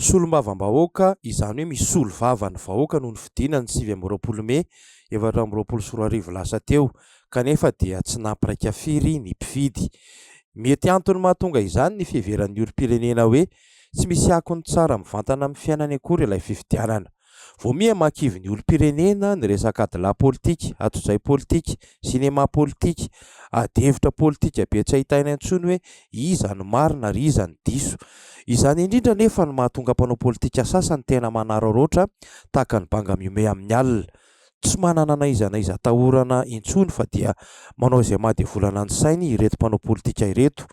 Solombavambahoaka, izany hoe misolo vava ny vahoaka no nifidina ny sivy amby roapolo mey efatra amby roapolo sy roa arivo lasa teo, kanefa dia tsy nampiraika firy ny mpifidy. Mety antony mahatonga izany ny fiheveran'ny olom-pirenena hoe tsy misy akony tsara mivantana amin'ny fiainany akory ilay fifidianana. Vao miha mahakivy ny olom-pirenena ny resaka adilahy politika, atodray politika, sinema politika, adihevitra politika be tsy ahitaina intsony hoe iza no marina ary iza no diso. Izany indrindra anefa no mahatonga mpanao politika sasany tena manararaotra tahaka ny banga mihomehy amin'ny alina. Tsy manana na iza na iza atahorana intsony fa dia manao izay maha devolana ny sainy ireto mpanao politika ireto.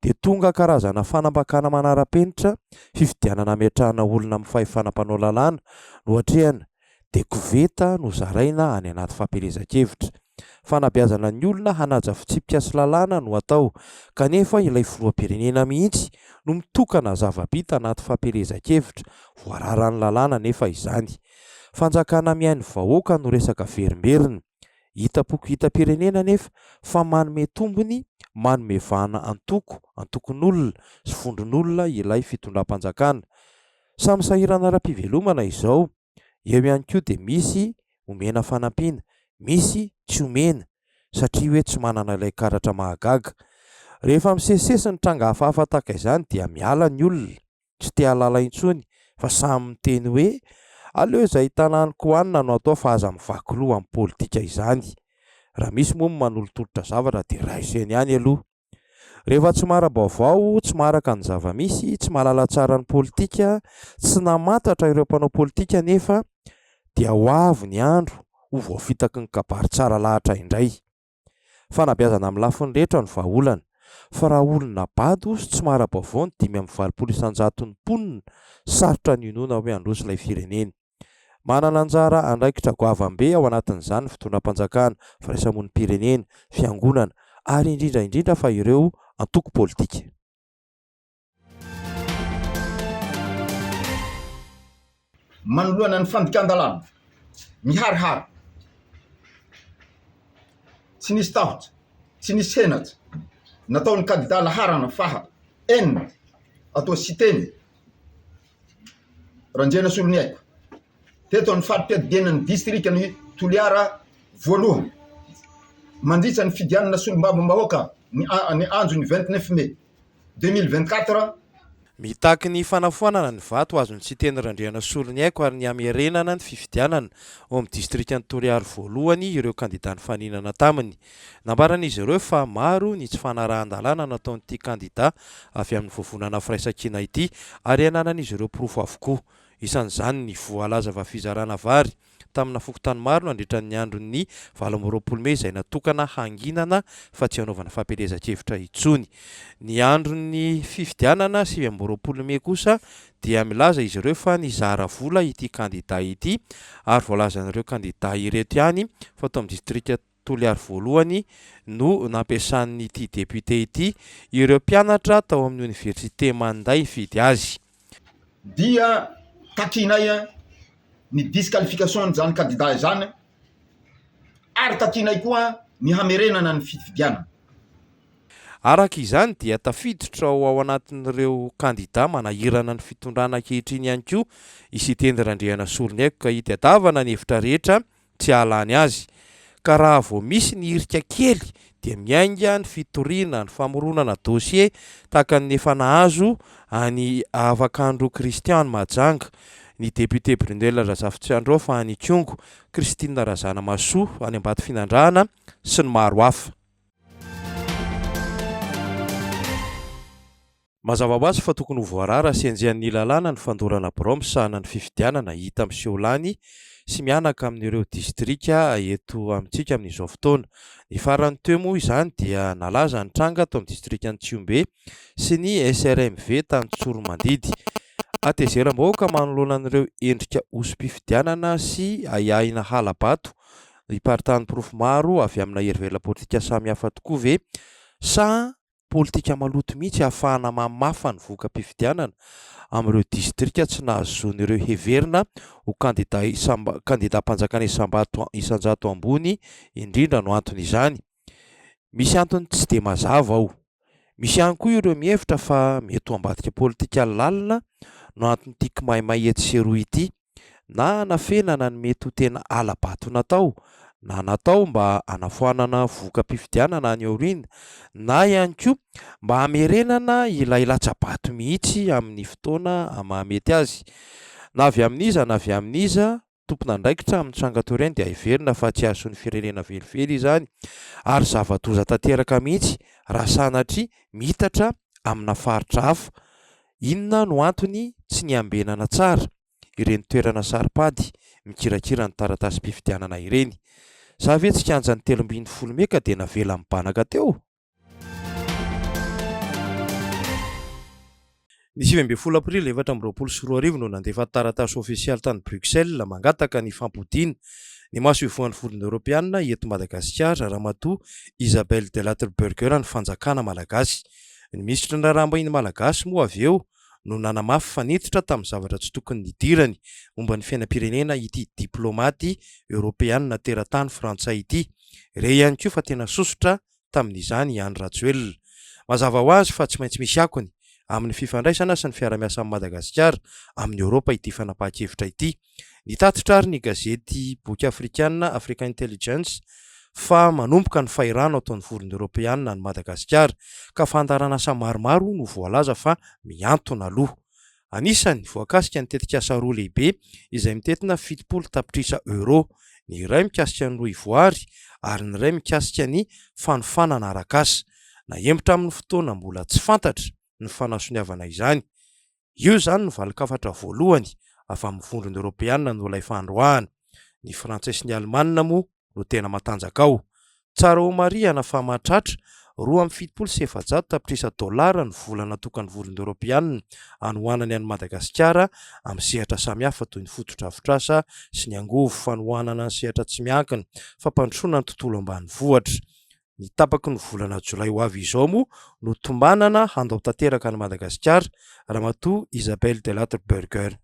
Dia tonga karazana fanambakana manara-penitra, fifidianana hametrahana olona amin'ny fahefana mpanao lalàna no atrehana, dia koveta no zaraina any anaty fampielezan-kevitra. Fanabeazana ny olona hanaja fitsipika sy lalàna no atao, kanefa ilay filoham-pirenena mihitsy no mitokana zava-bita anaty fampielezan-kevitra, voararan'ny lalàna anefa izany. Fanjakana mihaino vahoaka no resaka verimberina. Hitam-poko hitam-pirenena anefa fa manome tombony, manome vahana antoko, antokon'olona sy vondron'olona ilay fitondram-panjakana. Samy sahirana ara-pivelomana izao Eo ihany koa dia misy omena fanampiana, misy tsy omena satria hoe tsy manana ilay karatra mahagaga. Rehefa misesisesy ny tranga hafahafa tahaka izany dia miala ny olona, tsy te hahalala intsony fa samy miteny hoe aleo izay ahitana haniko hohanina no atao fa aza mivaky loha amin'ny politika izany. Raha misy moa ny manolotolotra zavatra dia raiso eny ihany aloha. Rehefa tsy maharam-baovao, tsy maharaka ny zava-misy, tsy mahalala tsara ny politika, tsy namantatra ireo mpanao politika anefa dia ho avy ny andro ho voafitaky ny kabary tsara lahatra indray. Fanabeazana amin'ny lafiny rehetra no vahaolana, fa raha olona bado sy tsy mahara-baovao ny dimy amby valopolo isan-jaton'ny mponina, sarotra ny hinoana hoe handroso ilay firenena. Manana anjara andraikitra goavam-be ao anatin'izany ny fitondram-panjakana, firaisamonim-pirenena, fiangonana ary indrindra indrindra fa ireo antoko politika. Manoloana ny fandikan-dalàna miharihary, tsy nisy tahotra, tsy nisy henatra nataon'ny kandidà laharana faha enina ato Siteny, Ranjena Soloniaiko, teto amin'ny fari-piadidianan'ny distrikan'i Toliara voalohany, mandritra ny fidianana solombavambahoaka ny ny andro ny vingt neuf mai deux mille vingt quatre, Mitaky ny fanafoanana ny vato azon'i Siteny Randriana Soloniaiko ary ny hamerenana ny fifidianana ao amin'ny distrikan'i Toliara voalohany ireo kandidà nifaninana taminy. Nambaran'izy ireo fa maro ny tsy fanarahan-dalàna nataon'ity kandida avy amin'ny vovonana firaisankina ity ary ananan'izy ireo porofo avokoa. Isan'izany ny voalaza fa fizarana vary tamina fokontany maro nandritra ny andron'ny valo amby roapolo mey izay natokana hanginana fa tsy hanaovana fampielezan-kevitra intsony. Ny andron'ny fifidianana sivy amby roapolo mey kosa dia milaza izy ireo fa nizara vola ity kandida ity ary voalazan'ireo kandida ireto ihany fa tao amin'ny distrika Toliary voalohany no nampiasan'ity député ity ireo mpianatra tao amin'ny oniversite Manda hifidy azy. Dia takianay ny disqualification an'izany kandida izany ary takianay koa ny hamerenana ny fifidianana. Araka izany dia tafiditra ao anatin'ireo kandida manahirana ny fitondrana ankehitriny ihany koa i Siteny Randrianasoloniaiko ka hitadiavana ny hevitra rehetra tsy hahalany azy, ka raha vao misy ny hirika kely dia miainga ny fitoriana, ny famoronana dosie tahaka ny efa nahazo an'i Avakandro Christian Mahajanga, ny député Brunelle Razafitsiandraofa any Ikongo, Christine Razanamahasoa any Ambatofinandrahana sy ny maro hafa. Mazava ho azy fa tokony ho voarara sy enjehan'ny lalàna ny fandorana birao misahana ny fifidianana hita miseho lany sy mihanaka amin'ireo distrika eto amintsika amin'izao fotoana. Ny farany teo moa izany dia nalaza ny tranga tao amin'ny distrikan'i Tsihombe sy ny SRMV tany Tsoromandidy. Hatezeram-bahoaka manoloana an'ireo endrika hoso-pifidianana sy ahiahina hala-bato hiparitahan'ny porofo maro avy amina herivela politika samihafa tokoa ve sa politika maloto mihitsy ahafahana mamafa ny voka-pifidianana amin'ireo distrika tsy nahazoan'ireo heverina ho kandida isamba kandidam-panjakana isam-bato isan-jato ambony indrindra no anton'izany. Misy antony tsy dia mazava ao. Misy ihany koa ireo mihevitra fa mety ho ambadika politika lalina no anton'ity kimaimay etsy sy eroa ity. na hanafenana ny mety ho tena hala-bato natao na natao mba hanafoanana voka-pifidianana any aoriana na ihany koa mba hamerenana ilay latsa-bato mihitsy amin'ny fotoana mahamety azy na avy amin'iza na avy amin'iza tompon'andraikitra amin'ny tranga toa ireny dia heverina fa tsy hahasoa ny firenena velively izany ary zava-doza tanteraka mihitsy raha sanatria miitatra amina faritra hafa. Inona no antony tsy niambenana tsara ireny toerana saro-pady mikirakira ny taratasim-pifidianana ireny? Sa ve tsy kianjan'ny telo ambin'ny folo mey ka dia navela mibanaka teo? Ny sivy ambin'ny folo aprily efatra amby roapolo sy roa arivo no nandefa taratasy ofisialy tany Bruxelles mangataka ny fampodiana Ny maso ivohan'ny vondrona eoropeanina eto Madagasikara, Ramatoa Isabelle Delattre-Burger ny fanjakana malagasy. Ny minisitry ny raharaham-bahiny malagasy moa avy eo no nanamafy fa niditra tamin'ny zavatra tsy tokony nidirany momba ny fiainam-pirenena ity diplaomaty eoropeanina teratany frantsay ity. Re ihany koa fa tena sosotra tamin'izany i Andry Rajoelina. Mazava ho azy fa tsy maintsy misy akony amin'ny fifandraisana sy ny fiarahamiasan'i Madagasikara amin'i Eoropa ity fanapahan-kevitra ity. Nitatitra ary ny gazety boky afrikana Africa Intelligence fa manomboka ny fahirano ataon'ny Vondrona Eoropeana an'i Madagasikara ka fandaharan'asa maromaro no voalaza fa mihantona aloha Anisany voakasika ny tetikasa roa lehibe izay mitentina fitopolo tapitrisa euros, ny iray mikasika ny rohivoary ary ny iray mikasika ny fanofanana arak'asa. Nahembotra amin'ny fotoana mbola tsy fantatra ny fanasoniavana izany. Io izany no valin-kafatra voalohany avy amin'ny Vondrona Eoropeana nolaifandroahana. Ny Frantsay sy ny Alemana moa no tena matanjaka ao. Tsara homarihana fa mahatratra roa amby fitopolo sy efajato tapitrisa dolara ny vola natokan'ny Vondrona Eoropeanina hanohanany an'i Madagasikara amin'ny sehatra samihafa toy ny fotodrafitrasa sy ny angovo, fanohanana ny sehatra tsy miankina, fampandrosoana ny tontolo ambanivohitra. Ny tapaky ny volana jolay ho avy izao moa no tombanana handao tanteraka an'i Madagasikara, Ramatoa Isabelle Delattre Burger.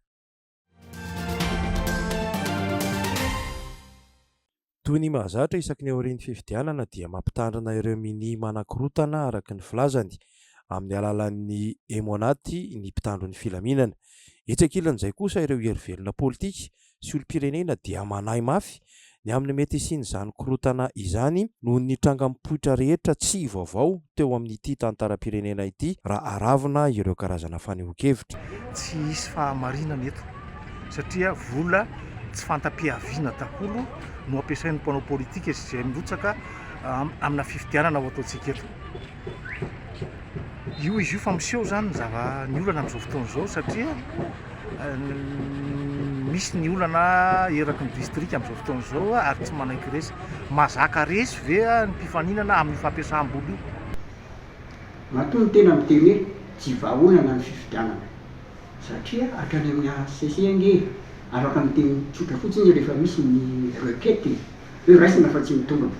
Toy ny mahazatra, isaky ny aorian'ny fifidianana dia mampitandrina ireo minia manakorotana araka ny filazany amin'ny alalan'ny Emonaty ny mpitandro ny filaminana. Etsy ankilan'izay kosa ireo herivelona politika sy olom-pirenena dia manahy mafy Ny amin'ny mety hisian'izany korontana izany noho ny tranga mipoitra rehetra tsy vaovao teo amin'ity tantaram-pirenena ity raha aravona ireo karazana fanehoan-kevitra. Tsy hisy fahamarinana eto satria vola tsy fanta-piaviana daholo no ampiasain'ny mpanao politika sy izay mirotsaka amina fifidianana ho ataontsika eto. Io izy io fa miseho izany ny zava ny olana amin'izao fotoana izao satria misy ny olana eraky ny distrika amin'izao fotoana izao ary tsy manaiky resy. Mazaka resy ve ny mpifaninana amin'io fampiasam-bola io? Matoa ny tena miteny hoe tsy vahaolana ny fifidianana satria hatrany amin'ny HCC ange afaka miteny tsotra fotsiny rehefa misy ny requête hoe raisina fa tsy mitombina.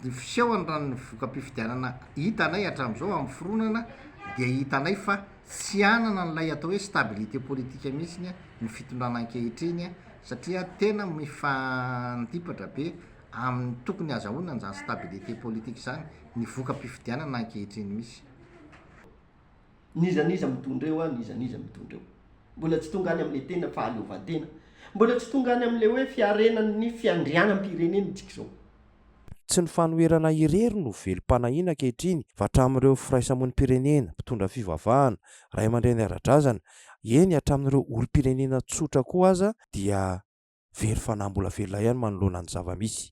ny fisehony raha ny voka-pifidianana hitanay hatramin'izao amin'ny fironana dia hitanay fa tsy hanana an'ilay atao hoe stabilité politique mihitsy ny fitondrana ankehitriny satria tena mifandipatra be amin'ny tokony hazahoany an'izany stabilité politique izany ny voka-pifidianana ankehitriny misy. N'iza n'iza mitondra eo an, n'iza n'iza mitondra eo. Mbola tsy tonga any amin'ilay tena fahaleovantena. Mbola tsy tonga any amin'ilay hoe fiarenan'ny fiandrianam-pirenena isika izao. Tsy ny fanoherana irery no velom-panahiana ankehitriny fa hatramin'ireo firaisamonim-pirenena, mpitondra fivavahana, ray aman-dreny ara-drazana, eny hatramin'ireo olom-pirenena tsotra koa aza dia very fanahy mbola velona ihany manoloana ny zava-misy.